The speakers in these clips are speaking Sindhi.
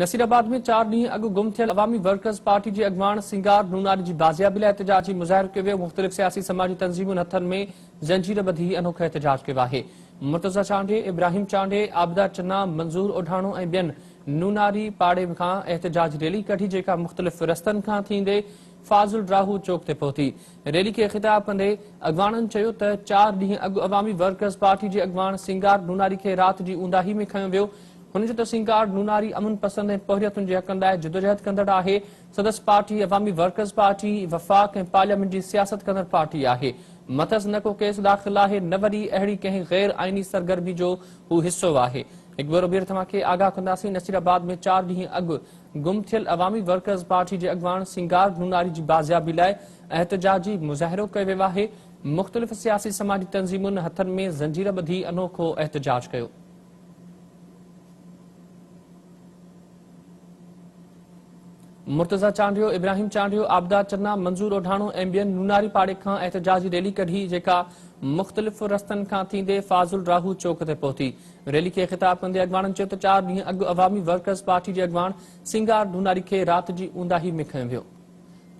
نصير آباد ۾ چار ڏينهن اڳ گم ٿيل عوامي ورڪرز پارٽي جي اڳواڻ سنگار نوناري جي بازيابي لاء احتجاجي مظاهرو ڪيو ويو، مختلف سياسي سماجي تنظيمن هٿن ۾ زنجير ٻڌي انوکو احتجاج ڪيو آهي، مرتضيٰ چانڊيي، ابراهيم چانڊيي، عابده چنا، منظور اوڍاڻو ۽ ٻين نوناري پاڙي کان احتجاجي ريلي ڪڍي جيڪا مختلف رستن کان ٿيندي فاضل راهو چوڪ تي پهتي، ريلي کي خطاب ڪندي اڳواڻن چيو ته چار ڏينهن اڳ عوامي ورڪرز پارٽي جي اڳواڻ سنگار نوناري کي رات جي اونداهي ۾ کنيو ويو، هن چيو ته سينگار نوناري امن پسند ۽ پورهيتن جي حقن لاء جدوجهد ڪندڙ آهي، سندس پارٽي عوامي ورڪرز پارٽي، وفاق ۽ پارليامينٽ جي سياست ڪندڙ پارٽي آهي، مٿس نه ڪو ڪيس داخل آهي نه وري اهڙي ڪنهن غير آئيني سرگرمي جو هو حصو آهي، هڪ ڀيرو ٻيهر توهان کي آگاهه ڪنداسين، نصير آباد ۾ چار ڏينهن اڳ گم ٿيل عوامي ورڪرز پارٽي جي اڳواڻ سينگار نوناري جي بازيابي لاء احتجاجي مظاهرو ڪيو ويو آهي، مختلف سياسي سماجي تنظيمن هٿن ۾ زنجير ٻڌي انوکو احتجاج ڪيو. مرتضيٰ چانڊيو، ابراهيم چانڊيو، آبدار چنا، منظور اوڍاڻو ۽ ٻين نوناري پاڙي کان احتجاجي ريلي ڪڍي جيڪا مختلف رستن کان ٿيندي فاضل راهو چوڪ تي پهتي. ريلي کي خطاب ڪندي اڳواڻن چيو ته چار ڏينهن اڳ عوامي ورڪرز پارٽي جي اڳواڻ سينگار ڍوناري کي رات جي اونداهي ۾ کنيو ويو.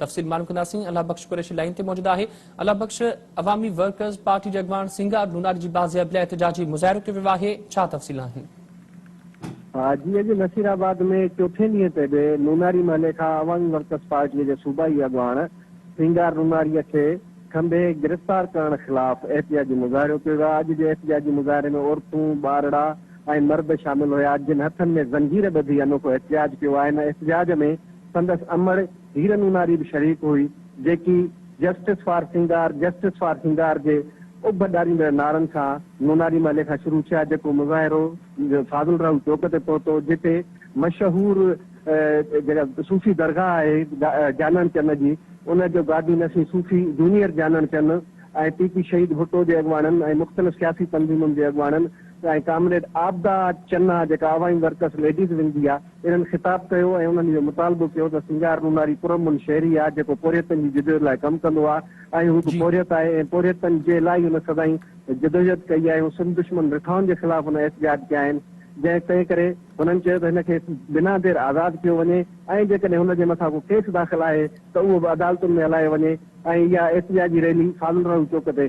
تفصيل معلوم ڪنداسين الله بخش قريشي لائين تي موجود آهي الله بخش عوامي ورڪرز پارٽي جي اڳواڻ سينگار لوناري جي بازيابي لاء احتجاجي مظاهرو ڪيو ويو آهي ڇا تفصيل آهن. ها جي اڄ نصير آباد ۾ چوٿين ڏينهن تي به لوناري محلي کان عوامي ورڪرز پارٽي جي صوبائي اڳواڻ سينگار لوناري کي کنڀي گرفتار ڪرڻ خلاف احتجاجي مظاهرو ڪيو ويو اڄ جي احتجاجي مظاهري ۾ عورتون ٻارڙا ۽ مرد شامل هيا جن هٿن ۾ زنجير ٻڌي انوکو احتجاج ڪيو آهن احتجاج ۾ سندس امڙ هير ميماري به شريڪ هئي، جيڪي justice for Singar, Justice for Singar، جي اڀ ڏاريندڙ نعرن سان نوناري محلي کان شروع ٿيا، جيڪو مظاهرو فاضل راهو چوڪ تي پهتو، جتي مشهور جيڪا صوفي درگاهه آهي جانڻ چن جي، ان جو گادي نشين صوفي جونيئر جانڻ چن ۽ پي پي شهيد ڀٽو جي اڳواڻن ۽ مختلف سياسي تنظيمن جي اڳواڻن ۽ ڪامريڊ عابده چنا جيڪا عوامي ورڪرس ليڊيز ونگ جي آهي، انهن خطاب ڪيو ۽ انهن اهو مطالبو ڪيو ته سينگار نوناري پرامن شهري آ جيڪو پورهيتن جي جدوجهد لاء ڪم ڪندو آ ۽ هو به پورهيت آهي ۽ پورهيتن جي لاء ئي هن سدائين جدوجهد ڪئي آهي ۽ سنڌ دشمن رٺائن جي خلاف هن احتجاج ڪيا آهن جنهن تنهن ڪري هنن چيو ته هن کي بنا دير آزاد ڪيو وڃي ۽ جيڪڏهن هن جي مٿان ڪو ڪيس داخل آهي ته اهو به عدالتن ۾ هلايو وڃي ۽ اها احتجاجي ريلي فاضل راهو چوڪ تي